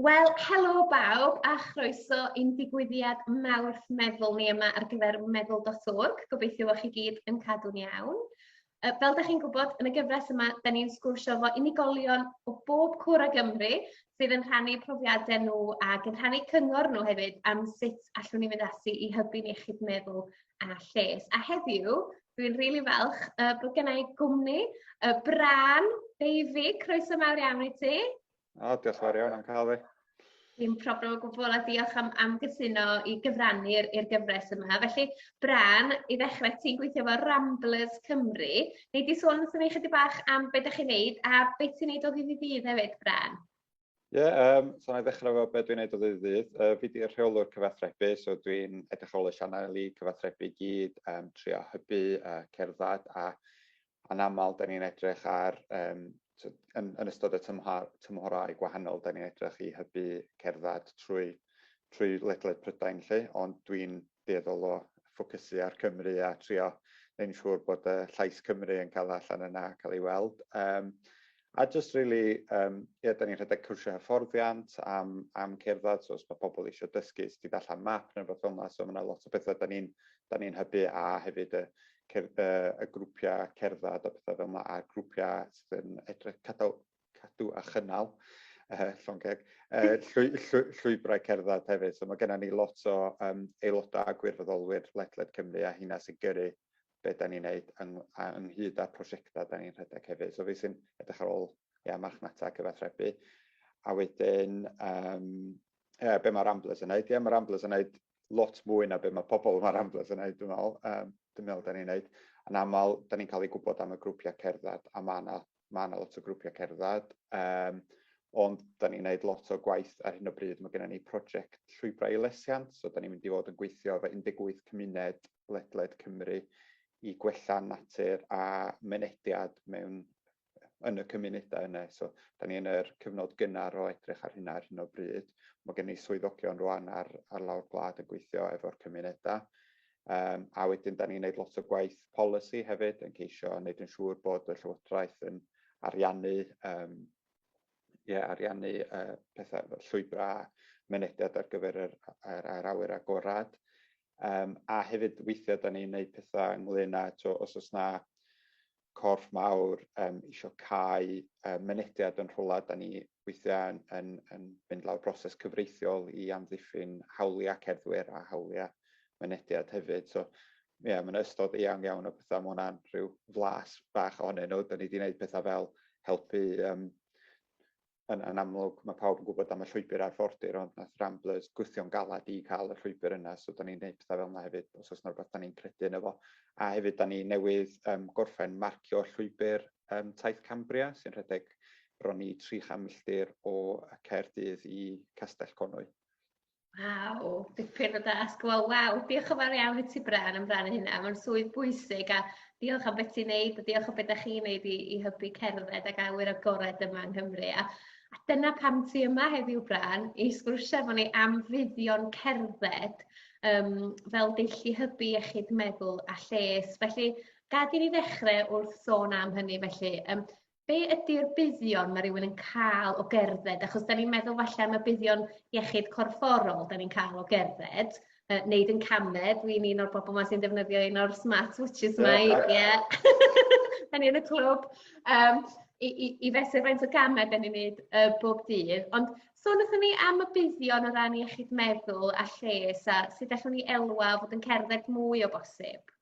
Wel, helo bawb a chroeso i'n digwyddiad Mawrth Meddwl ni yma ar gyfer Meddwl.org. Gobeithio bod chi gyd yn cadw'n iawn. Fel ydych chi'n gwybod, yn y gyfres yma, da ni'n sgwrsio efo unigolion o bob cwr o Gymru sydd yn rhannu profiadau nhw ac yn rhannu cyngor nhw hefyd am sut allwn ni fynd ati i hybu'n iechyd meddwl a lles. A heddiw, dwi'n rili really falch uh, bod gen i gwmni y Bran Beifi. Croeso mawr iawn i ti. O, diolch yn fawr iawn am cael fi. Dim problem o gwbl a diolch am, am gytuno i gyfrannu i'r gyfres yma. Felly, Bran, i ddechrau, ti'n gweithio efo Ramblers Cymru. Neu di sôn wrthyn ni chydig bach am beth ydych chi'n neud a beth ti'n neud o ddydd i ddydd hefyd, Bran? Ie, um, so na i ddechrau efo beth dwi'n neud o ddydd i ddydd. Uh, fi di'r rheolwr cyfathrebu, so dwi'n edrych ar ôl y sianel i cyfathrebu i gyd, um, trio hybu uh, cerdded a anaml, da ni'n edrych ar, um, so, yn, yn ystod y tymhor, tymhorau gwahanol, da ni'n edrych i hybu cerdded trwy, trwy ledled Prydain lle, ond dwi'n dueddol o ffocysu ar Cymru a trio neu'n siŵr bod y llais Cymru yn cael allan yna a cael ei weld. Um, a just really, um, ie, da ni'n rhedeg cwrsio hyfforddiant am, am cerdded, so os mae pobl eisiau dysgu sut i ddallan map neu rhywbeth fel yna, so mae yna lot o bethau da ni'n ni hybu a hefyd y, cer, y, y grwpiau cerdded a pethau fel yna, a grwpiau sydd yn edrych cadaw, cadw a chynnal, uh, llongeg, uh, llwy, llwy, llwybrau cerdded hefyd. So mae gennym ni lot o um, aelodau a gwirfoddolwyr ledled Cymru a hynna sy'n gyrru beth da ni'n neud yng, ynghyd â'r prosiectau da ni'n rhedeg hefyd. So fi sy'n edrych ar ôl ia, marchnata a cyfathrebu. A wedyn, um, ia, be mae Ramblers yn neud? Ia, mae Ramblers yn neud lot mwy na be mae pobl yma Ramblers yn neud, dwi'n meddwl. Um, dwi'n meddwl da ni'n neud. Yn aml, da ni'n cael ei gwybod am y grwpiau cerdded a mae yna mae yna lot o grwpiau cerdded, um, ond da ni'n gwneud lot o gwaith ar hyn o bryd. Mae gennym ni prosiect llwybrau i lesiant, so da ni'n mynd i fod yn gweithio efo 18 cymuned ledled Cymru i gwella natur a mynediad mewn yn y cymunedau yna. So, da ni yn yr cyfnod gynnar o edrych ar hynna ar hyn o bryd. Mae gen i swyddogion rwan ar, ar lawr gwlad yn gweithio efo'r cymunedau. Um, a wedyn, da ni'n gwneud lot o gwaith polisi hefyd, yn ceisio wneud yn siŵr bod y Llywodraeth yn ariannu, um, ie, ariannu uh, pethau llwybrau mynediad ar gyfer yr, yr, yr awyr agorad. Um, a hefyd weithiau da ni'n gwneud pethau ynglyn â, to, os oes na corff mawr um, eisiau cael um, mynediad yn rhywle, da ni weithiau yn, yn, yn mynd lawr broses cyfreithiol i amddiffyn hawliau cerddwyr a hawliau mynediad hefyd. So, ie, yeah, mae'n ystod eang iawn o bethau, mae hwnna'n rhyw flas bach ohonyn nhw. Da ni wedi gwneud pethau fel helpu um, yn, yn amlwg, mae pawb yn gwybod am y llwybr arfordir, ond nath Ramblers gwthio'n galad i cael y llwybr yna, so da ni'n gwneud pethau fel yna hefyd, os oes yna rhywbeth da ni'n credu yn efo. A hefyd, da ni newydd um, gorffen marcio llwybr um, Taith Cambria, sy'n rhedeg bron i 300 milltir o Caerdydd i Castell Conwy. Waw, dipyn o dasg. Wel, waw, diolch yn fawr iawn i ti Bran am rannu hynna. Mae'n swydd bwysig a diolch am beth ti'n neud a diolch am beth da chi'n neud i, i hybu cerdded ac awyr agored yma yng Nghymru. A, a dyna pam ti yma heddiw Bran i sgwrsio efo ni am fuddion cerdded um, fel deillu hybu iechyd meddwl a lles. Felly, gad i ni ddechrau wrth sôn am hynny felly. Um, Be ydy'r buddion mae rhywun yn cael o gerdded? Achos da ni'n meddwl falle am y buddion iechyd corfforol da ni'n cael o gerdded, uh, neud yn camed, dwi'n un o'r bobl yma sy'n defnyddio un o'r smart watches yma, ie. Da ni yn y clwb. Um, i, i, i fesur faint o gamau da ni'n neud uh, bob dydd. Ond so wnaethon ni am y buddion o ran iechyd meddwl a lles a sut allwn ni elwa fod yn cerdded mwy o bosib?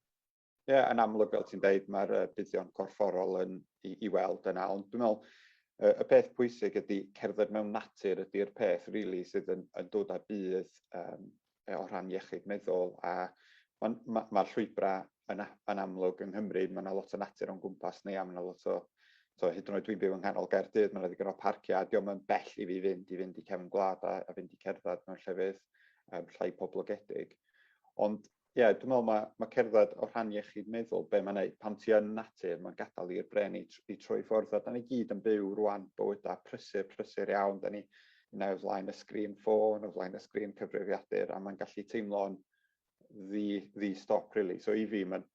Ie yeah, yn amlwg fel ti'n deud mae'r uh, buddion corfforol yn i, i weld yna ond dwi'n meddwl uh, y peth pwysig ydy cerdded mewn natur ydy'r peth rili really, sydd yn, yn dod â budd um, o rhan iechyd meddwl a mae'r ma, ma llwybrau yn, yn amlwg yng Nghymru, mae yna lot o natur o'n gwmpas ni a mae yna lot o, so hyd yn oed dwi'n byw yng nghanol Gaerdydd, mae yna ddigon o parciau, a diolch yn bell i fi fynd i fynd i cefn gwlad a, a fynd i cerdded mewn llefydd um, llai poblogedig. Ond Ie, yeah, dwi'n meddwl mae, mae cerdded o rhan iechyd meddwl, be mae'n neud, pan ti yn natur, mae'n gadael i'r bren i, i troi ffwrdd, a da ni gyd yn byw rwan bywydau prysur, prysur iawn, da ni yna o flaen y sgrin ffôn, o flaen y sgrin cyfrifiadur, a mae'n gallu teimlo'n ddi, ddi stop, really. So i fi, mae'n,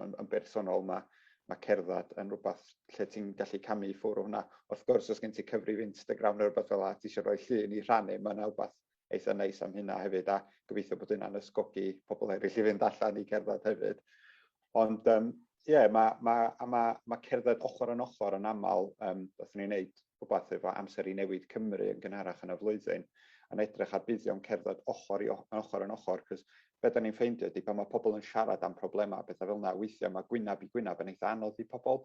yn, yn bersonol, mae, mae cerdded yn rhywbeth lle ti'n gallu camu i ffwrdd hwnna. Wrth gwrs, os gen ti cyfrif Instagram neu rhywbeth fel yna, ti eisiau rhoi llun i rhannu, mae'n rhywbeth eitha neis am hynna hefyd a gobeithio bod hynna'n ysgogi pobl eraill i fynd allan i cerdded hefyd. Ond um, ie, yeah, mae ma, ma, ma cerdded ochr yn ochr yn aml, um, beth ni'n neud rhywbeth efo amser i newid Cymru yn gynharach yn y flwyddyn, yn edrych ar buddion cerdded ochr i ochr yn ochr, cos beth da ni'n ffeindio ydy pan mae pobl yn siarad am problemau, bethau fel yna, weithiau mae gwynab i gwynab yn eitha anodd i pobl,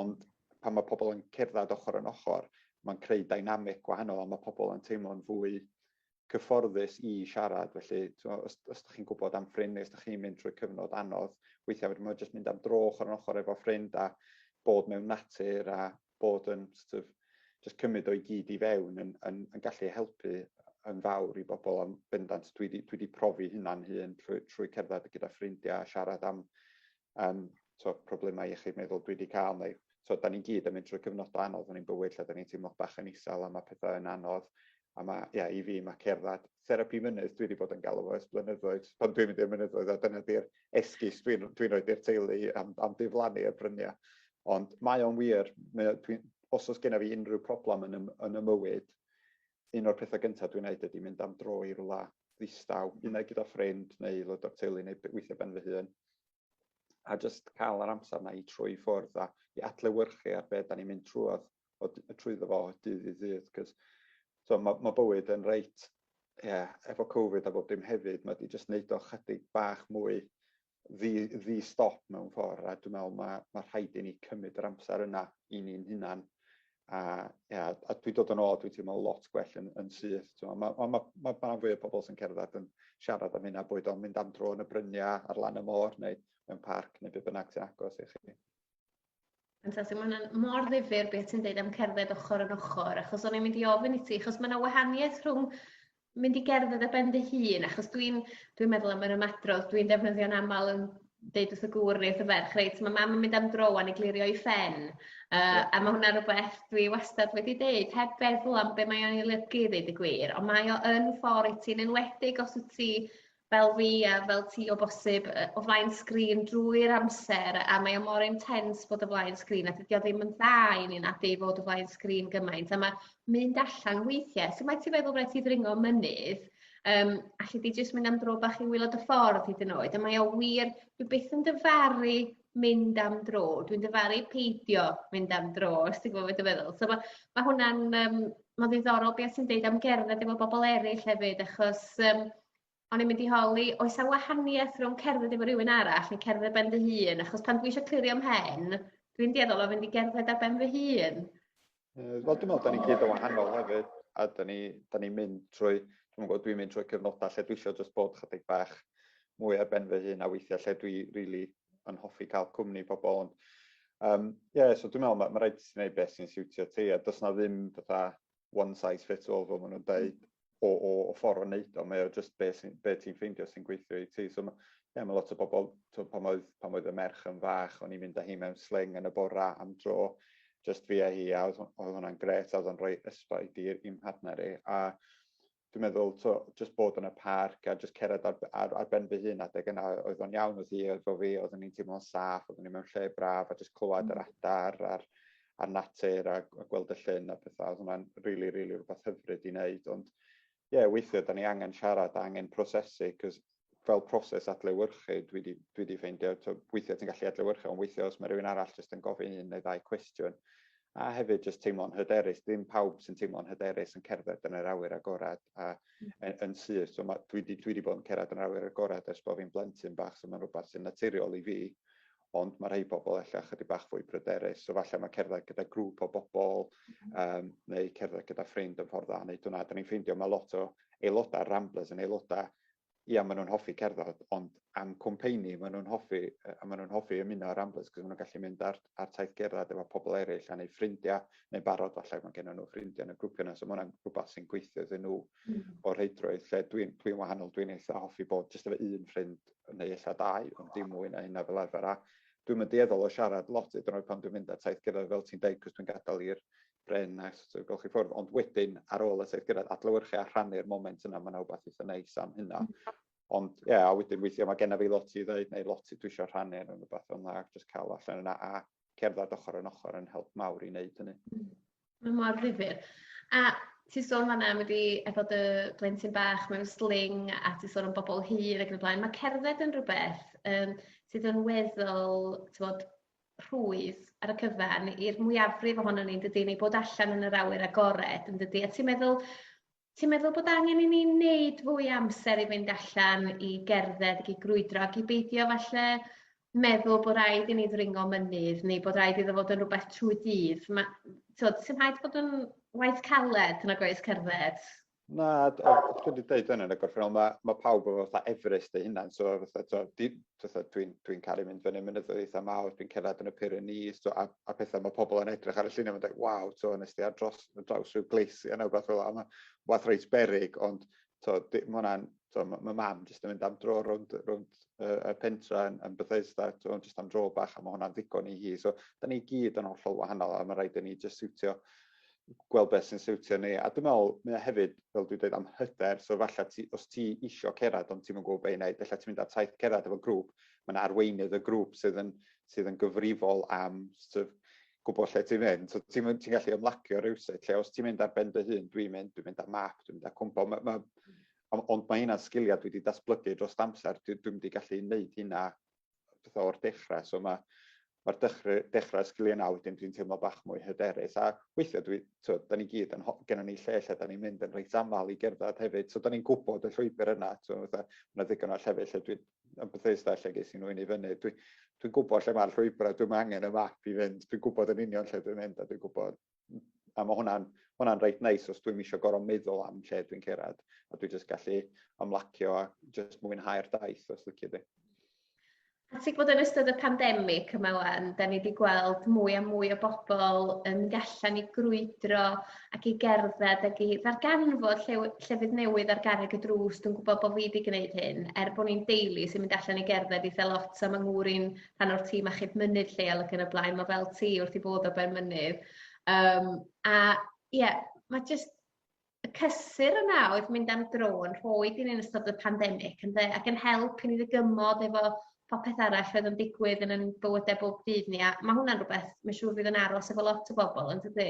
ond pan mae pobl yn cerdded ochr yn ochr, mae'n creu dynamic gwahanol a mae pobl yn teimlo'n fwy cyfforddus i siarad. Felly, os, os ydych chi'n gwybod am ffrind neu os ydych chi'n mynd trwy cyfnod anodd, weithiau mae jyst mynd am dro ochr yn ochr efo ffrind a bod mewn natur a bod yn sort of, just cymryd o'i gyd i fewn yn, yn, yn gallu helpu yn fawr i bobl am bendant. Dwi wedi dwi profi hynna'n hun trwy, trwy cerdded gyda ffrindiau a siarad am am so, problemau iechyd meddwl dwi wedi cael, neu so, da ni'n gyd yn mynd trwy cyfnodau anodd yn ein bywyd lle da ni'n teimlo bach yn isel a mae pethau yn anodd. A mae, ia, i fi, mae cerdded therapi mynydd dwi wedi bod yn galw ers blynyddoedd, pan dwi'n mynd i'r mynyddoedd, a dyna di'r esgus dwi'n dwi roed i'r teulu am, am diflannu y bryniau. Ond mae o'n wir, dwi'n, os oes genna fi unrhyw problem yn y, yn y mywyd, un o'r pethau gyntaf dwi'n neud ydy mynd am dro i rwla ddistaw, mm. unai gyda ffrind neu aelod o'r teulu neu weithiau ben fy hun. A jyst cael yr amser na i trwy ffwrdd a i adlewyrchu ar beth da ni'n mynd trwy trwyddo fo dydd i ddydd. Cos, so, mae, mae bywyd yn reit, ie, yeah, efo Covid a bob dim hefyd, mae wedi jyst neud o chydig bach mwy ddi, ddi stop mewn ffordd, a dwi'n meddwl mae, mae rhaid i ni cymryd yr amser yna i ni'n hunan, a, ia, a dwi'n dod yn ôl, dwi'n teimlo lot gwell yn, yn syth. Mae ma, ma, ma, ma, ma fwy o bobl sy'n cerdded yn siarad am hynna, boed o'n mynd am dro yn y bryniau ar lan y môr neu mewn parc neu beth bynnag sy'n agos i chi. Fantastic, mae hwnna'n mor ddifur beth ti'n dweud am cerdded ochr yn ochr, achos o'n i'n mynd i ofyn i ti, achos mae yna wahaniaeth rhwng mynd i gerdded ar ben dy hun, achos dwi'n dwi meddwl am yr ymadrodd, dwi'n defnyddio'n aml yn deud wrth y gŵr neu wrth y ferch, reit, mae mam yn mynd am dro a ni glirio i ffen, uh, yeah. a mae hwnna rhywbeth dwi wastad wedi deud, heb feddwl am be mae o'n ei lygu ddeud y gwir, ond mae o yn ffordd i ti'n enwedig os wyt ti fel fi a fel ti o bosib yy o flaen sgrin drwy'r amser a mae o mor intense bod o flaen sgrin a dydi o ddim yn dda i ni nadi fod o flaen sgrin gymaint a ma' mynd allan weithie so mae ti feddwl reit i ddringo mynydd yym alli di jyst mynd am dro bach i wylod y ffordd hyd yn oed a mae o wir dwi byth yn dyfaru mynd am dro dwi'n dyfaru peidio mynd am dro os ti'n gwbo be' dwi feddwl so ma' ma' hwnna'n yym ma'n ddiddorol be' o' ti'n deud am gerdded efo bobol eryll hefyd achos yym o'n i'n mynd i holi, oes a wahaniaeth rhwng cerdded efo rhywun arall neu cerdded ben dy hun? Achos pan dwi eisiau clirio mhen, dwi'n dueddol o fynd i gerdded ar ben fy hun. Uh, Wel, dwi'n meddwl, da ni gyd o wahanol hefyd, a da ni, da ni mynd trwy, dwi'n meddwl, dwi'n mynd trwy cyfnodau lle dwi eisiau jyst bod chydig bach mwy ar ben fy hun a weithiau lle dwi really yn hoffi cael cwmni pobl. Ond, um, yeah, so dwi'n meddwl, mae ma rhaid ti'n gwneud beth sy'n siwtio ti, a does na ddim fatha one size fits all fel maen nhw'n dweud mm. o, o, o ffordd o wneud o, mae o just be, sy, be ti'n ffeindio sy'n gweithio i ti. So, yeah, mae lot o bobl, to, pan, oedd, pan oedd y merch yn fach, o'n i'n mynd â hi mewn sling yn y bora am dro, just fi a hi, a oedd, oedd hwnna'n gret, a oedd o'n rhoi ysbaid i'r partner i. A dwi'n meddwl, to, just bod yn y parc a just cerdded ar, ar, ar ben fy hun adeg yna oedd o'n iawn oedd hi, oedd o fi, oedd o'n i'n teimlo'n saff, oedd o'n i'n mewn lle braf a just clywed yr mm. adar a'r, ar natur a, a gweld y llun a pethau. Oedd hwnna'n rili, really, rili really rhywbeth hyfryd i wneud. Ond ie, yeah, weithiau, da ni angen siarad, angen prosesu, cos fel proses adlewyrchu, dwi wedi, dwi wedi ffeindio, so, weithiau ti'n gallu adlewyrchu, ond weithiau os mae rhywun arall jyst yn gofyn un neu ddau cwestiwn, a hefyd jyst teimlo'n hyderus, ddim pawb sy'n teimlo'n hyderus yn cerdded yn yr awyr agorad a mm. yn, yn syth. So mae, dwi, wedi, dwi wedi bod yn cerdded yn yr awyr agorad ers bod fi'n blentyn bach, so mae'n rhywbeth sy'n naturiol i fi, ond mae rhai pobl efallai ychydig bach fwy pryderus, so falle mae cerdded gyda grŵp o bobl um, neu cerdded gyda ffrind yn ffordd dda wneud hwnna. Da ni'n ffeindio mae lot o aelodau Ramblers yn aelodau ia maen nhw'n hoffi cerdded ond am cwmpeini maen nhw'n hoffi a maen nhw'n hoffi ymuno â'r Ramblers cos maen nhw'n gallu mynd ar ar taith gerdded efo pobl eraill a neu ffrindiau neu barod falle mae gennym nhw ffrindiau yn y grwpio yna so mae hwnna'n rhywbeth sy'n gweithio iddyn nhw mm. o'r heidrwydd lle dwi'n dwi'n wahanol dwi'n eitha hoffi bod jyst efo un ffrind neu eitha dau ond dim mwy na hynna fel arfer a dwi'n mynd dueddol o siarad lot iddyn nhw pan dwi'n mynd ar taith gerdded fel ti'n deud cos dwi'n gadael i'r Bren, nice to gael chi ffwrdd, ond wedyn ar ôl y saith gyrraedd, adlywyrchu a rhannu'r moment yna, mae'n awbeth eitha neis am hynna. Mm. Ond ie, yeah, a wedyn weithiau mae genna fi lot i ddweud neu lot i dwi eisiau rhannu yn rhywbeth o'n dda, jyst cael allan yna a cerdded ochr yn ochr yn help mawr i wneud hynny. Mm. Mae mor ddifur. A ti sôn fanna am wedi efo dy blentyn bach mewn sling a ti sôn am bobl hir ac yn y blaen. Mae cerdded yn rhywbeth um, sydd yn weddol, ti'n bod, rhwydd ar y cyfan i'r mwyafrif ohonon ni, dydy, neu bod allan yn yr awyr agored, yn dydy? A ti'n meddwl, ti'n meddwl bod angen i ni wneud fwy amser i fynd allan i gerdded, i grwydro, ac i beidio falle meddwl bod rhaid i ni ddringo mynydd neu bod rhaid iddo fod yn rhywbeth trwy dydd. Mae, ti'n meddwl, sy'n rhaid bod yn waith caled nag oes cerdded? Na, dwi wedi dweud hynny yn y gorffennol, mae, mae pawb efo fatha Everest ei hunan, so fatha, to, di, fatha, dwi'n dwi caru mynd fyny mynyddoedd eitha mawr, dwi'n cerdded yn y Pyrenees, to, a, a pethau mae pobl yn edrych ar y llunau, mae'n dweud, waw, to, nes di ar dros, draws rhyw gleisi yna, beth fel yma, wath reit berig, ond to, di, mae hwnna'n, to, mae ma mam jyst yn mynd am dro rownd, rownd uh, y pentra yn, yn Bethesda, to, jyst am dro bach, a mae hwnna'n ddigon i hi, so da ni gyd yn hollol wahanol, a mae rhaid i ni jyst siwtio gweld beth sy'n siwtio ni, a dwi'n meddwl, mae o hefyd, fel dwi'n dweud, am hyder, so falle ti, os ti isio cerdded ond ti'n gwybod beth i wneud, falle ti'n mynd ar taith cerdded efo grŵp, mae yna arweinydd y grŵp sydd yn, sydd yn gyfrifol am sort of, gwybod lle ti'n mynd, so ti'n ti gallu ymlacio rhywsut, lle os ti'n mynd ar ben dy hun, dwi'n mynd, dwi'n mynd ar map, dwi'n mynd ar cwmpo, ma, ma, ond mae hynna'n sgiliau dwi wedi datblygu dros amser, dwi'n dwi wedi gallu gwneud hynna beth o'r dechrau. So mae mae'r dechrau, dechrau sgiliau yna wedyn dwi'n teimlo bach mwy hyderus. A weithiau, dwi, to, da ni gyd, yn, gennym ni lle lle da ni'n mynd yn reit aml i gerdded hefyd. So da ni'n gwybod y llwybr yna. To, fatha, yna ddigon o llefydd lle dwi'n yn Bethesda lle ges i nhw i fyny. Dwi, dwi'n gwybod lle mae'r llwybrau, dwi'n angen y map i fynd. Dwi'n gwybod yn union lle dwi'n mynd a dwi'n gwybod a mae hwnna'n hwnna'n reit neis os dwi'n eisiau gorau meddwl am lle dwi'n cerad a dwi jyst gallu ymlacio a jyst mwynhau'r daith os licio di. A ti'n gwybod yn ystod y pandemig yma wan, da ni wedi gweld mwy a mwy o bobl yn mynd allan i grwydro ac i gerdded ac i ddarganfod lle, llefydd newydd ar garreg y drws. Dwi'n gwybod bod fi wedi gwneud hyn, er bod ni'n deulu sy'n mynd allan i gerdded eitha lot am yng ngŵr i'n rhan o'r tîm achub mynydd lleol ac yn y blaen ma' fel ti wrth 'i bodd o ben mynydd yym a ie ma' jyst y cysur yna oedd mynd am dro yn rhoi gin yn ystod y pandemic ynde ac yn help i ni ddygymod efo popeth arall oedd yn digwydd yn 'yn bywyde bob dydd ni a ma' hwnna'n rwbeth ma' siŵr fydd yn aros efo lot o bobol yndydi?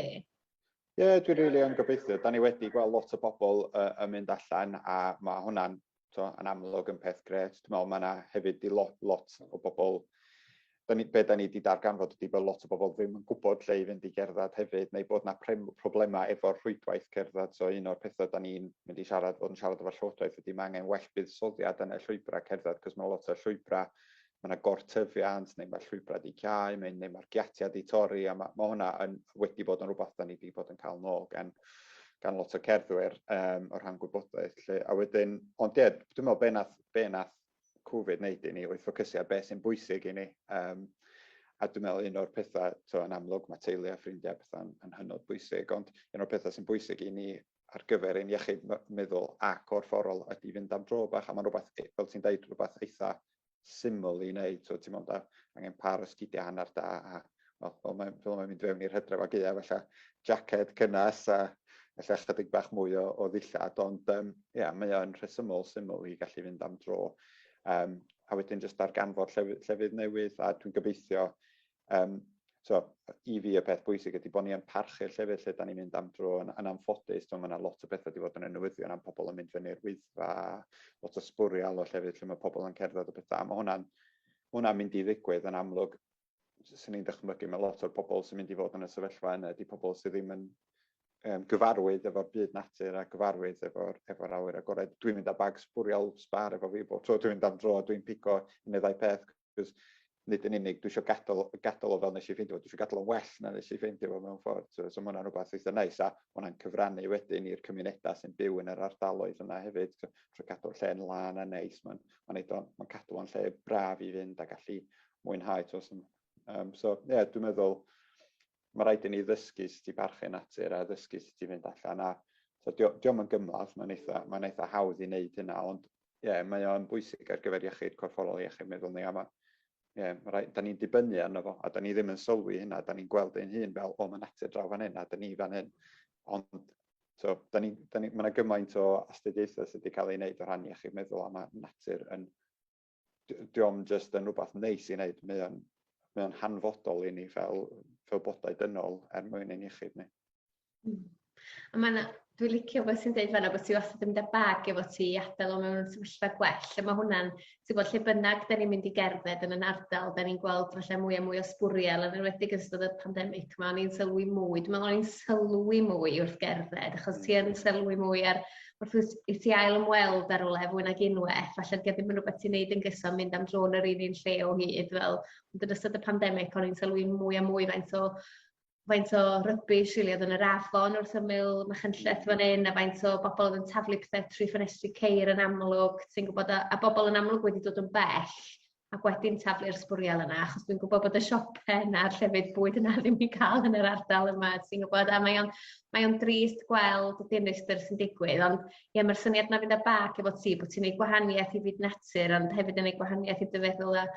Ie dwi rili yn gobeithio 'dan ni wedi gweld lot o bobol yy yn mynd allan a ma' hwnna'n to, yn amlwg yn peth gret. Dwi'n meddwl mae yna hefyd i lot, lot o bobl, da ni, be da ni wedi darganfod ydy bod lot o bobl ddim yn gwybod lle i fynd i gerdded hefyd, neu bod yna problemau efo'r rhwydwaith cerdded. So un o'r pethau da ni'n mynd i siarad, bod yn siarad efo'r llywodraeth ydy mae angen well buddsoddiad yn y llwybrau cerdded, cos mae lot o llwybrau mae yna gortyfiant neu mae llwybrau wedi cau neu, neu mae'r giatiau wedi torri a mae, mae hwnna yn, wedi bod yn rhywbeth da ni wedi bod yn cael nôl gan, gan lot o cerddwyr um, o rhan gwybodaeth. Lle. A wedyn, ond ie, dwi'n meddwl be nath, be nath Covid wneud i ni oedd ffocysu ar beth sy'n bwysig i ni. Um, a dwi'n meddwl un o'r pethau, to, yn amlwg mae teulu a ffrindiau pethau'n yn hynod bwysig, ond un o'r pethau sy'n bwysig i ni ar gyfer ein iechyd meddwl a gorfforol ydy fynd am dro bach, a mae'n rhywbeth, e, fel ti'n dweud, rhywbeth eitha syml i wneud, so, ti'n meddwl, angen par o sgidiau hanner da, a wel, fel mae'n fel mae mynd fewn i'r hydref ag eia, felly jacket cynnes a felly chydig bach mwy o, o ddillad, ond um, yeah, mae o'n rhesymol syml i gallu fynd am dro. Um, a wedyn jyst darganfod llefydd, llefydd newydd, a dwi'n gobeithio Um, so, I fi y peth bwysig ydy bod ni yn parchu'r llefydd lle da ni'n mynd am dro yn, yn anffodus. Mae yna lot o bethau wedi bod yn y newyddion am pobl yn mynd fyny'r wyddfa, lot o sbwriel o llefydd lle mae pobl yn cerdded o bethau. Mae hwnna'n hwnna mynd i ddigwydd yn amlwg. Swn ni'n dychmygu mae lot o'r pobl sy'n mynd i fod yn y sefyllfa yna ydy pobl sydd ddim yn um, gyfarwydd efo'r byd natur a gyfarwydd efo'r efo awyr agored. Dwi'n mynd â bag sbwriel sbar efo fi bob tro dwi'n mynd am dro, dwi'n pico un neu ddau peth, Cos nid yn unig dwi eisiau gadael, gadael o fel nes i ffeindio fo, dwi eisiau gadael o'n well na nes i ffeindio fo mewn ffordd. So, so mae hwnna'n rhywbeth eitha neis a mae hwnna'n cyfrannu wedyn i'r cymunedau sy'n byw yn yr ardaloedd yna hefyd. So, trwy gadw'r lle'n lan a neis, mae'n ma ma cadw o'n lle braf i fynd a gallu mwynhau. So, um, so yeah, dwi'n meddwl mae rhaid i ni ddysgu sut i barchu natur a ddysgu sut i fynd allan a so, diolch yn gymlath, mae'n eitha, mae eitha hawdd i wneud hynna, ond ie, yeah, mae o'n bwysig ar gyfer iechyd corfforol a iechyd meddwl ni, a mae, yeah, mae rhaid, da ni'n dibynnu arno fo, a da ni ddim yn sylwi hynna, da ni'n gweld ein hun fel, o, mae natur draw fan hyn, a da ni fan hyn. Ond, so, da ni, da ni, mae yna gymaint o astudiaethau sydd wedi cael ei wneud o rhan iechyd meddwl, a mae natur yn, diolch yn just yn rhywbeth neis i wneud, mae o'n, mae o'n hanfodol i ni fel, fel bodau dynol er mwyn ein iechyd ni. Hmm. A mae yna... Dwi'n licio beth sy'n dweud fanna bod ti wastad yn mynd â bag efo ti i adael o mewn sefyllfa gwell. A mae hwnna'n... ti'n gwybod, lle bynnag da ni'n mynd i gerdded yn yn ardal, da ni'n gweld falle mwy a mwy o sbwriel, yn enwedig yn ystod y pandemig, mae o'n i'n sylwi mwy. Dwi'n meddwl o'n i'n sylwi mwy wrth gerdded, achos ti yn sylwi mwy ar wrth gwrs, i ti ail ymweld ar rywle fwy nag unwaith, falle gyda ddim yn rhywbeth ti'n neud yn gyson mynd am dro yn yr un un lle o hyd, fel, ond yn ystod y pandemig, o'n i'n sylwi mwy a mwy faint o faint o rubbish rili o'dd yn yr afon wrth ymyl Machynlleth fan 'yn a faint o bobol o'dd yn taflu pethe trwy ffenestri ceir yn amlwg ti'n gwbod a a bobol yn amlwg wedi dod yn bell ac wedi'n taflu'r sbwriel yna achos dwi'n gwbod bod y siope 'na a'r llefydd bwyd yna ddim i ca'l yn yr ardal yma ti'n gwbod a mae o'n mae o'n drist gweld y dinistr sy'n digwydd ond ie ma'r syniad 'na fynd â bag efo ti bo' ti'n neud gwahanieth i fyd natur ond hefyd yn neud gwahanieth i dy feddwl a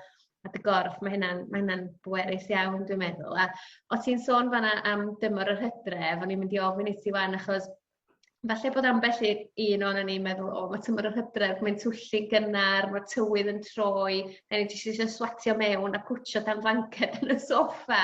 a dy gorff, mae hynna'n mae hynna'n bwerus iawn dwi'n meddwl. A o' ti'n sôn fanna am dymor yr hydref, o'n i'n mynd i ofyn i ti wan achos falle bod ambell i un o'n ni'n meddwl o mae tymor yr hydref mae'n twyllu gynnar, mae tywydd yn troi, a ni jyst eisiau swatio mewn a cwtio dan flanced yn y soffa.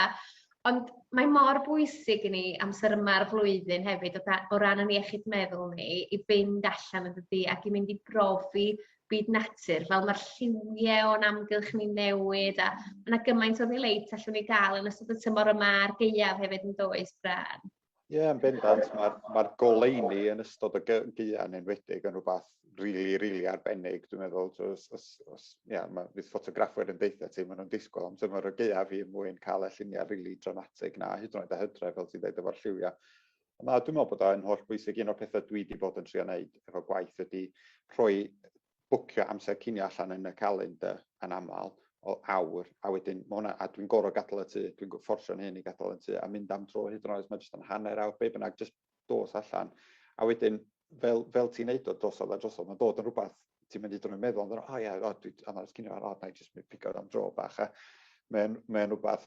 Ond mae mor bwysig i ni amser yma'r flwyddyn hefyd o, da, o ran yn iechyd meddwl ni i fynd allan yn dydi ac i mynd i brofi byd natur, fel mae'r lliwiau o'n amgylch ni'n newid, a mae yna gymaint o ddileit allwn ni gael yn ystod y tymor yma a'r gaeaf hefyd yn does, Bran? Ie, yeah, yn bendant, mae'r ma goleini yn ystod y gaeaf yn wedig yn rhywbeth rili, really, rili really arbennig, dwi'n meddwl. Os, os, os, yeah, mae, fydd ffotograffwyr yn deitha ti, maen nhw'n disgwyl am tymor y gaeaf i mwyn cael y lluniau rili really dramatig na, hyd yn oed a hydre, fel ti'n dweud, efo'r lliwiau. Na, dwi'n meddwl bod o'n holl bwysig. Un o'r pethau dwi wedi bod yn trio wneud efo gwaith ydy rhoi bwcio amser cinio allan yn y calendr yn aml o awr, a wedyn mae hwnna, a dwi'n gorau gadael y tŷ, dwi'n fforsio'n hyn i gadael y tŷ, a mynd am dro hyd yn oed, mae jyst yn hanner awr, be bynnag, jyst dos allan. A wedyn, fel, fel ti'n neud o drosodd a drosodd, mae'n dod yn rhywbeth ti'n mynd i drwy'n meddwl, ond o ia, o, dwi, a mae'r cinio ar, o, na i jyst mynd pigo'r am dro bach, a mae'n mae rhywbeth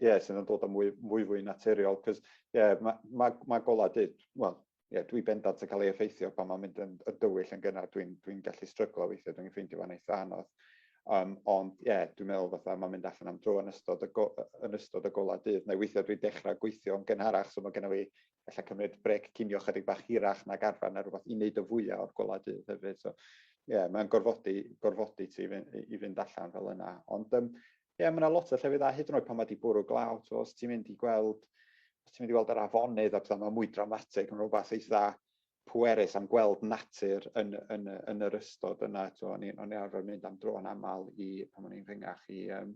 Ie, yeah, sydd yn dod â mwy, mwy fwy naturiol, cos ie, yeah, mae ma, ma golau dyd, wel, ie, yeah, dwi bendant yn cael ei effeithio pan mae'n mynd yn, yn dywyll yn gynnar, dwi'n dwi gallu stryglo weithiau, dwi'n ffeindio fan eitha anodd. Um, ond ie, yeah, dwi'n meddwl fatha mae'n mynd allan am dro yn ystod y, go, yn ystod y golau dydd, neu weithiau dwi'n dechrau gweithio yn gynharach, so mae gennym fi efallai cymryd brec cinio chydig bach hirach na garfa neu rhywbeth i wneud y fwyaf o'r golau dydd hefyd. So, ie, yeah, mae'n gorfodi, gorfodi ti i fynd, i fynd allan fel yna. Ond um, Ie, yeah, mae yna lot o llefydd a hyd yn oed pan mae wedi bwrw glaw, so, os ti'n mynd i gweld, os ti'n mynd i weld yr afonydd a pethau, mae mwy dramatig, mae'n rhywbeth eitha pwerus am gweld natur yn, yn, yn yr ystod yna. So, o'n i'n arfer mynd am dro yn aml i, pan o'n i'n rhyngach, i, um,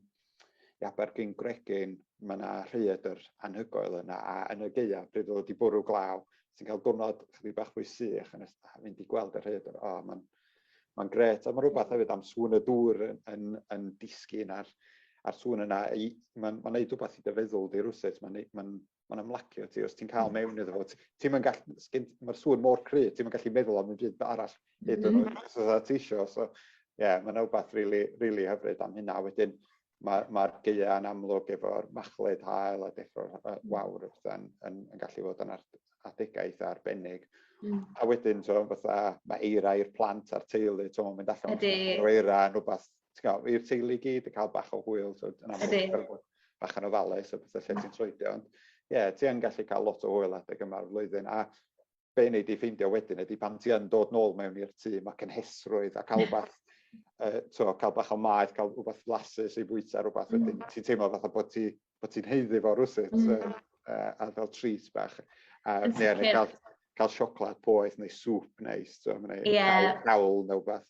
i Abergyn Gregyn, mae yna rhaeadr anhygoel yna, a yn y geia, pryd oedd wedi bwrw glaw, ti'n cael diwrnod chydig bach fwy sych, yn mynd i gweld y rhaeadr, o, oh, mae'n Mae'n gret, a mae'n rhywbeth hefyd am sŵn y dŵr yn, yn, yn disgyn a'r, ar sŵn yna. Mae'n ma neud rhywbeth i dy feddwl di rhywsut, mae'n ma ma ymlacio ti. Os ti'n cael hmm. mewn iddo fo, ti'n mynd gallu, mae'r sŵn mor cry, ti'n mynd gallu meddwl am y byd arall hyd yn hmm. oed os ti eisiau. So, ie, yeah, mae'n rhywbeth really, really hyfryd am hynna. Wedyn, Mae'r ma gaeau yn amlwg efo'r machlud hael a deffro'r uh, wawr yn, yn, yn gallu fod yn adegau eitha arbennig. Mm. A wedyn, so, fatha, mae eira i'r plant a'r teulu, so, mynd allan o'r eira yn rhywbeth, i'r teulu gyd, y cael bach o hwyl, so, yn amlwg, bach yn ofalus, so, beth lle ti'n troedio. Ond, ie, yeah, ti yn gallu cael lot o hwyl adeg yma'r flwyddyn. A be wnei di ffeindio wedyn ydy pan ti yn dod nôl mewn i'r tŷ, mae cynhesrwydd a cael rhywbeth, uh, to, cael bach o maeth, cael rhywbeth flasus i bwyta rhywbeth mm. wedyn. Ti'n teimlo fatha bod ti, bod ti'n heiddi fo rhywsut, mm. uh, uh, a fel treat bach. Uh, neu, neu cael, cael sioclad poeth neu sŵp neis, so, neu yeah. cawl neu beth.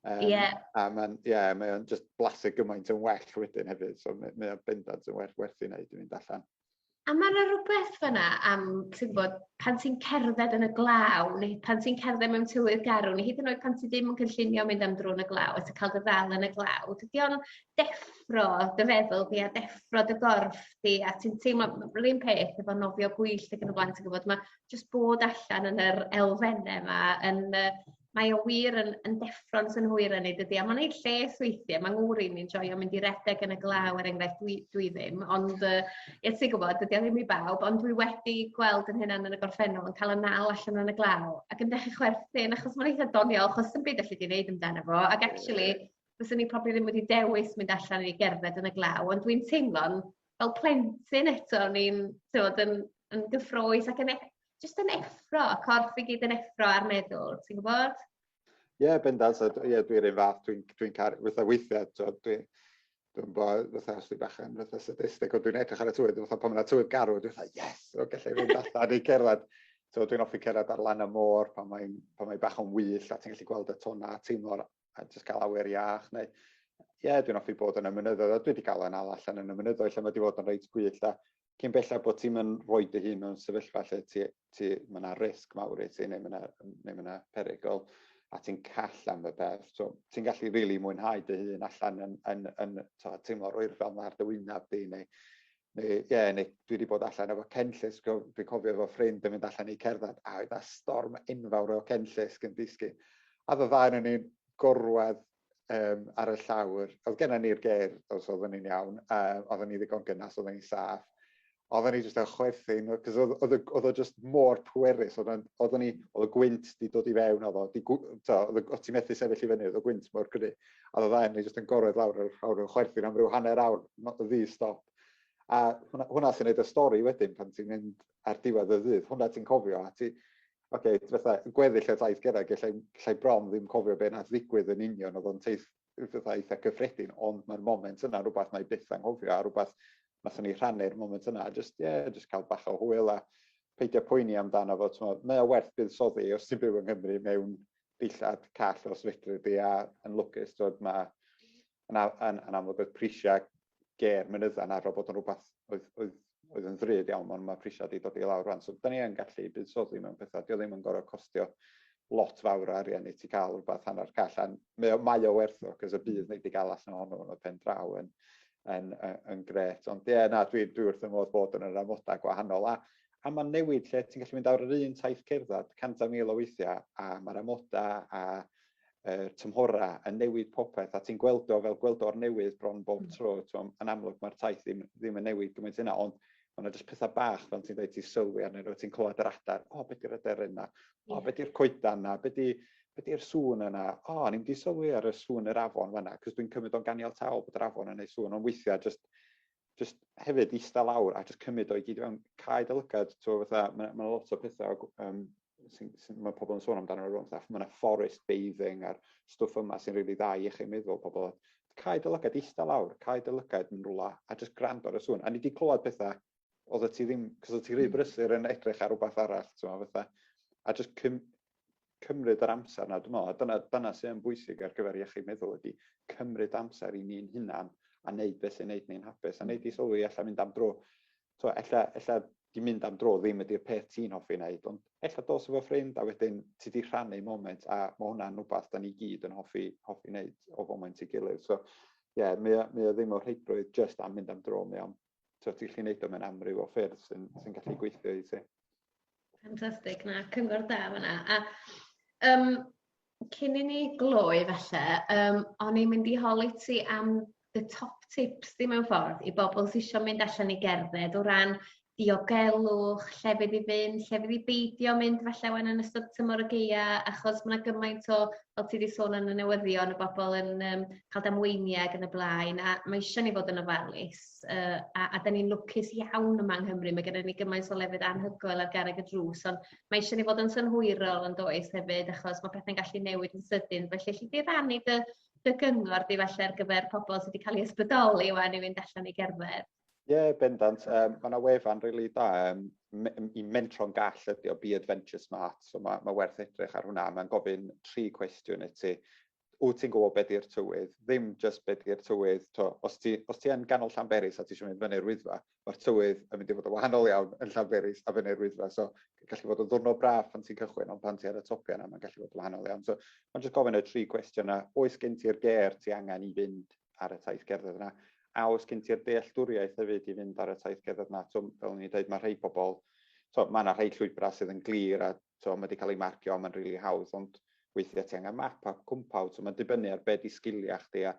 Um, yeah. A mae'n yeah, mae just blasu gymaint yn well wedyn hefyd, so mae o'n bendant yn werth, werth i wneud i fynd allan. A mae 'na rywbeth fanna am ti'n gwbod pan ti'n cerdded yn y glaw neu pan ti'n cerdded mewn tywydd garw neu hyd yn oed pan ti ddim yn cynllunio mynd am dro yn y glaw a ti ca'l dy ddal yn y glaw dydi o'n deffro dy feddwl di a deffro dy gorff di a ti'n teimlo m- yr un peth efo nofio gwyllt ag yn y blaen ti gwbod ma' jyst bod allan yn yr elfenne 'ma yn yy Mae o wir yn yn deffro'n synhwyrau ni dydy, a mae'n ei lles weithiau, mae ngŵr i'n ni'n joio mynd i redeg yn y glaw er enghraifft, dwi, dwi ddim, ond uh, ie ti'n gwybod, dydy o ddim i bawb, ond dwi wedi gweld yn hynna'n yn y gorffennol yn cael y nal allan yn y glaw ac yn dechrau chwerthin achos mae'n eitha doniol achos sy'n byd allu di wneud amdano fo ac actually fyswn ni probably ddim wedi dewis mynd allan i gerdded yn y glaw ond dwi'n teimlo'n fel plentyn eto o'n i'n yn, yn gyffroes ac yn e- jyst yn effro, y corff i gyd yn effro a'r meddwl, ti'n gwybod? Ie, yeah, bendant, so, yeah, dwi'n rhaid fath, dwi'n dwi, dwi caru, fatha weithiau, dwi'n dwi bo, fatha os dwi'n bach yn fatha sadistic, ond dwi'n edrych ar y twydd, fatha pan mae'n twydd garw, dwi'n fatha, yes, o, gallai fynd allan i cerdded. So dwi'n offi cerdded ar lan y môr pan mae'n mae bach o'n wyll a ti'n gallu gweld y tona a teimlo'r a jyst cael awyr iach neu ie, yeah, dwi'n offi bod yn y mynyddoedd, a dwi wedi cael yna allan yn y mynyddoedd lle mae wedi bod yn reit gwyll a cyn bellach bod ti'n mynd rhoi dy hun mewn sefyllfa lle ti, ti, mae yna risg mawr i ti neu mae yna, neu mae yna perygl a ti'n call am y peth. So, ti'n gallu rili really mwynhau dy hun allan yn, yn, yn, yn to, teimlo rwy'r fel mae'r dy wynaf di neu Neu, ie, neu dwi wedi bod allan efo cenllus, dwi'n cofio efo ffrind yn mynd allan i cerdded, a oedd a storm enfawr o cenllus yn disgyn. A dda yn ni'n gorwedd um, ar y llawr, oedd gennym ni'r ger, os oeddwn ni'n iawn, um, oeddwn ni ddigon gynnas, oeddwn ni'n saff, oeddwn ni jyst yn chwerthu, cos oedd, oedd, oedd o jyst mor pwerus, oeddwn, oeddwn ni, oedd y gwynt di dod i fewn, oedd o, di, to, oedd, oedd ti'n methu sefyll i fyny, oedd y gwynt mor gry, a oedd dda ni jyst yn gorwedd lawr yr awr yn chwerthu am ryw hanner awr, ddi stop. A hwnna, hwnna sy'n neud y stori wedyn pan ti'n mynd ar diwedd y ddydd, hwnna ti'n cofio, a ti, Oce, okay, fatha, gweddill oedd aeth gyda, gallai, gallai bron ddim cofio beth nath ddigwydd yn union, oedd o'n teith fatha eitha cyffredin, ond mae'r moment yna rhywbeth na'i byth anghofio, a rhywbeth nath ni rhannu'r moment yna, a just, yeah, just cael bach o hwyl a peidio poeni amdano fo, ti'n meddwl, mae o werth bydd soddi os ti'n byw yng Nghymru mewn dillad call os fedri di, a yn lwcus, ti'n meddwl, mae yn, yn, yn amlwg oedd prisiau ger mynydda yn arfer bod yn rhywbeth oedd, oedd, oedd yn ddrud iawn, ond mae prisiau wedi dod i lawr rhan. So, da ni yn gallu buddsoddi mewn pethau, dio ddim yn gorau costio lot fawr o arian i ti cael rhywbeth hanner call, a mae o, mae o werth o, cos y bydd wneud i gael allan ohono yn y pen draw yn, yn, yn, yn gret. Ond ie, yeah, na, dwi, dwi wrth y modd bod yn yr amodau gwahanol. A, a mae'n newid lle ti'n gallu mynd ar yr un taith cerdded 100,000 o weithiau, a mae'r amodau a yr tymhora yn newid popeth a ti'n gweld o fel gweld o'r newydd bron bob hmm. tro t'mo' yn amlwg mae'r taith ddim ddim yn newid gymaint yna ond ma' 'na jyst pethau bach fel ti'n dweud ti'n sylwi arnyn nhw, ti'n clywed yr adar o be' 'di'r aderyn 'na? O be' 'di'r coedan 'na? Be' 'di be' 'di'r sŵn yna? O o'n i'm 'di sylwi ar y sŵn yr afon fanna, 'c'os dwi'n cymryd o'n ganiataol bod yr afon yn neud sŵn ond weithiau jyst just hefyd eista lawr a just cymryd o'i gyd i fewn, cael dy lygad, ti'n gwybod, fatha, mae yna lot o pethau um, sy'n, sy, mae pobl yn sôn amdano rhywun, fatha, mae yna forest bathing a'r stwff yma sy'n rili really dda i eich meddwl pobl. Cael dy lygad eista lawr, cael dy lygad yn rhywle a just grand o'r sŵn. A ni wedi clywed pethau oedd ti ddim, cos oedd ti rhy hmm. brysur yn edrych ar rhywbeth arall, ti'n gwybod, fatha, a just cym, cymryd yr amser 'na dwi me'wl a dyna dyna sy yn bwysig ar gyfer iechyd meddwl ydi cymryd amser i ni'n hunan a neud beth sy'n neud ni'n hapus a neud i sylwi ella mynd am dro t'mo' ella ella 'di mynd am dro ddim ydi'r peth ti'n hoffi neud ond ella dos efo ffrind a wedyn ti 'di rhannu moment a ma' hwnna'n wbath 'dan ni gyd yn hoffi hoffi neud o foment i gilydd so ie mae o mae o ddim o rheidrwydd jyst am mynd am dro mae o'n so ti'n gallu gwneud o mewn amryw o ffyrdd sy'n sy gallu gweithio i ti. Fantastic, na, cyngor da fyna. A um, cyn i ni gloi falle, um, o'n i'n mynd i holi ti am the top tips di mewn ffordd i bobl sy'n eisiau mynd allan i gerdded o ran diogelwch, lle fydd i fynd, lle fydd i beidio mynd falle wen yn ystod tymor y geia, achos mae gymaint o fel ti 'di sôn yn y newyddion y bobol yn yym ca'l damweiniau ag yn y blaen a ma' isio ni fod yn ofalus yy a a 'dan ni'n lwcus iawn yma yng Nghymru mae gynnon ni gymaint o lefydd anhygoel ar garreg y drws on' ma' isio ni fod yn synhwyrol yndoes hefyd achos ma' pethe'n gallu newid yn sydyn felly elli di rannu dy dy gyngor di falle ar gyfer pobol sy 'di ca'l 'u ysbrydoli ŵan i fynd allan i gerdded? Ie yeah, bendant. Um, mae yna wefan rili really da. Um, me, I mentro'n gall ydi o, Be Adventure Smart. So mae, mae werth edrych ar hwnna. Mae'n gofyn tri cwestiwn i ti. Wyt ti'n gwybod beth i'r tywydd? Ddim just beth i'r tywydd. To, os ti, os ti yn ganol Llanberis a ti eisiau mynd fyny'r wyddfa, mae'r tywydd yn mynd i fod yn wahanol iawn yn Llanberis a fyny'r wyddfa. So gallu fod yn ddwrno braf pan ti'n cychwyn, ond pan ti ar y topiau yna, mae'n gallu fod yn wahanol iawn. So mae'n just gofyn y tri cwestiwn yna. Oes gen ti'r ger ti angen i fynd ar y taith gerdded yna. A oes gen ti'r dealltwriaeth hefyd i fynd ar y taith gerdded yna? Twm, fel o'n i'n dweud, mae rhai pobl, twm, mae yna rhai llwybrau sydd yn glir a twm, mae wedi cael ei marcio, mae'n rili really hawdd, ond weithiau ti angen map a cwmpaw, twm, mae'n dibynnu ar be di sgiliau chdi a,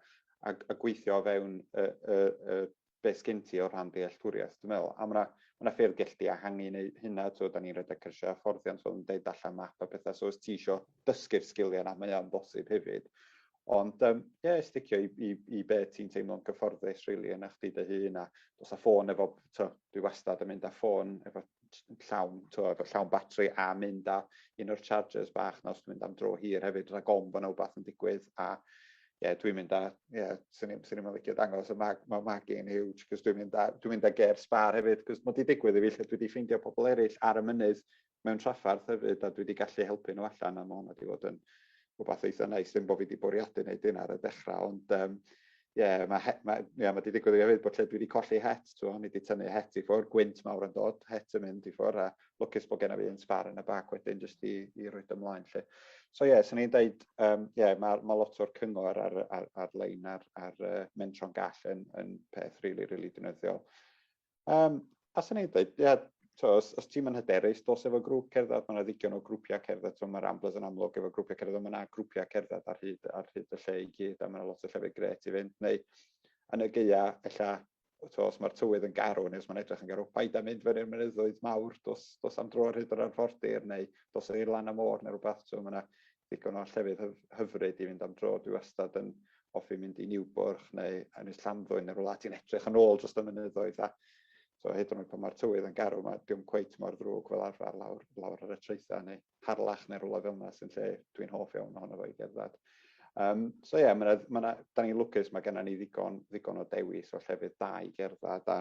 a, a gweithio o fewn y, y, y, be sgen ti o rhan dealltwriaeth, dwi'n meddwl, a mae yna, mae yna ffyrdd gell di ehangu neu hynna, ti'n da ni'n rhedeg cyrsiau a fforddiant fel yn deud allan map a pethau, so os ti eisiau dysgu'r sgiliau yna, mae o'n bosib hefyd. Ond ie, um, yeah, sticio i, i, i be ti'n teimlo'n gyfforddus rili really, yna chdi dy hun a dos a ffôn efo, to, dwi wastad yn mynd â ffôn efo llawn, tywed, o llawn batri a mynd a un o'r chargers bach na os dwi'n mynd am dro hir hefyd, rhaid gom bod yna wbath yn digwydd a ie, yeah, dwi'n mynd a, ie, yeah, sy'n ni'n mynd licio dangos y mag, mae mag i'n huge, cos dwi'n mynd a, dwi'n mynd a ger sbar hefyd, cos mae di digwydd i fi lle dwi wedi ffeindio pobl eraill ar y mynydd mewn traffarth hefyd, a dwi wedi gallu helpu nhw allan, a mae hwnna wedi bod yn, rhywbeth eitha neis, ddim bod fi wedi bwriadu wneud hyn ar y dechrau, ond um, yeah, mae he, ma, yeah, ma wedi digwydd i hefyd bod lle dwi wedi colli het, twa, ni wedi tynnu het i ffwrdd, gwynt mawr yn dod, het yn mynd i ffwrdd, a lwcus bod gen i fi yn sbar yn y bac wedyn jyst i, i roi ymlaen lle. So ie, yeah, so ni'n dweud, um, yeah, mae ma lot o'r cyngor ar, ar, ar-lein ar, ar, ar uh, mentro'n gall yn, yn peth rili, really, rili really dynyddiol. Um, a sy'n ei dweud, ia, so, os, os ti'n mynd hyderus, dos efo grŵp cerdded, mae'n ddigon o grwpiau cerdded, so, mae Ramblers yn amlwg efo grwpiau cerdded, mae yna grwpiau cerdded ar hyd, ar hyd y lle i gyd, a mae yna lot o llefydd gret i fynd, neu yn y geia, ella, so, os mae'r tywydd yn garw, neu os mae'n edrych yn garw, paid a mynd fyny'r mynyddoedd mawr, dos, dos am dro ar hyd yr arfordir, neu dos i'r lan am môr, neu rhywbeth, so, mae yna ddigon o llefydd hyfryd i fynd am dro. Dwi wastad yn offi mynd i Niwbwrch neu Ynys Llanddwyn neu rwla ti'n edrych yn ôl dros y mynyddoedd a so hyd yn oed pan mae'r tywydd yn garw mae dim cweit mor ddrwg fel arfer lawr lawr ar y traethau neu Harlech neu rwla fel yna sy'n lle dwi'n hoff iawn ohono fo i gerdded. Um, so ie, yeah, ma ma da ni'n lwcus, mae gennym ni ddigon, ddigon o dewis o llefydd da i gerdded a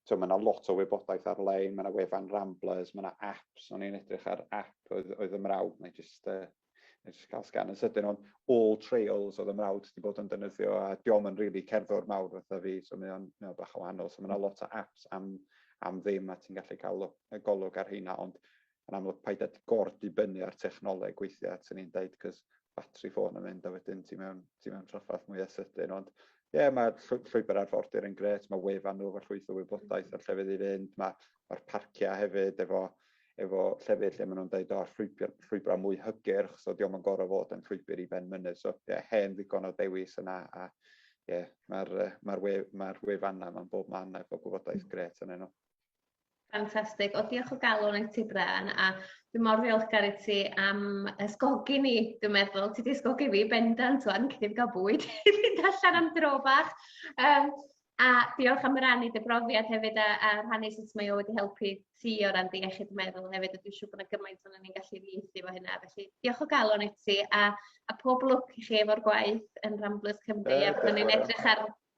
so mae yna lot o wybodaeth ar-lein, mae yna wefan Ramblers, mae yna apps, o'n i'n edrych ar app oedd, oedd y mrawd, neu jyst, uh, jyst cael sgan yn sydyn o'n all trails oedd y mrawd wedi bod yn dynyddio, a diom yn rili really cerddor mawr fatha fi, so mae o'n, mae o'n bach o wahanol, so mae yna lot o apps am, am ddim a ti'n gallu cael golwg ar hynna, ond yn amlwg paid â gor-dibynnu ar technoleg weithiau at yn i'n dweud, cos batri ffôn yn mynd a wedyn ti mewn, ti mewn traffath mwyaf sydyn, ond ie, yeah, mae llwybr arfordir yn gret, mae wefan nhw efo llwyth o wybodaeth ar llefydd i fynd, mae'r ma parciau hefyd efo, efo llefydd lle maen nhw'n dweud o'r llwybr, llwybrau mwy hygyrch, so diolch yn gorau fod yn llwybr i ben mynydd, so ie, yeah, hen ddigon o dewis yna, a ie, yeah, mae'r ma we, ma wefannau mae'n bob man efo gwybodaeth gret yn enw. Fantastic. O, diolch o galon i ti Bren a dwi mor ddiolchgar i ti am ysgogi ni, dwi'n meddwl. Ti 'di ysgogi fi bendant ŵan, cyn i fi gael bwyd i fynd allan am dro bach. Um, a diolch am rannu dy brofiad hefyd a, a rhannu sut mae o wedi helpu ti o ran dy iechyd meddwl hefyd a dwi'n siŵr bod yna gymaint o'n ni'n gallu ddiethu efo hynna. Felly diolch o galon i ti a, a pob lwc i chi efo'r gwaith yn Ramblers Cymru uh, a byddwn ni'n edrych ar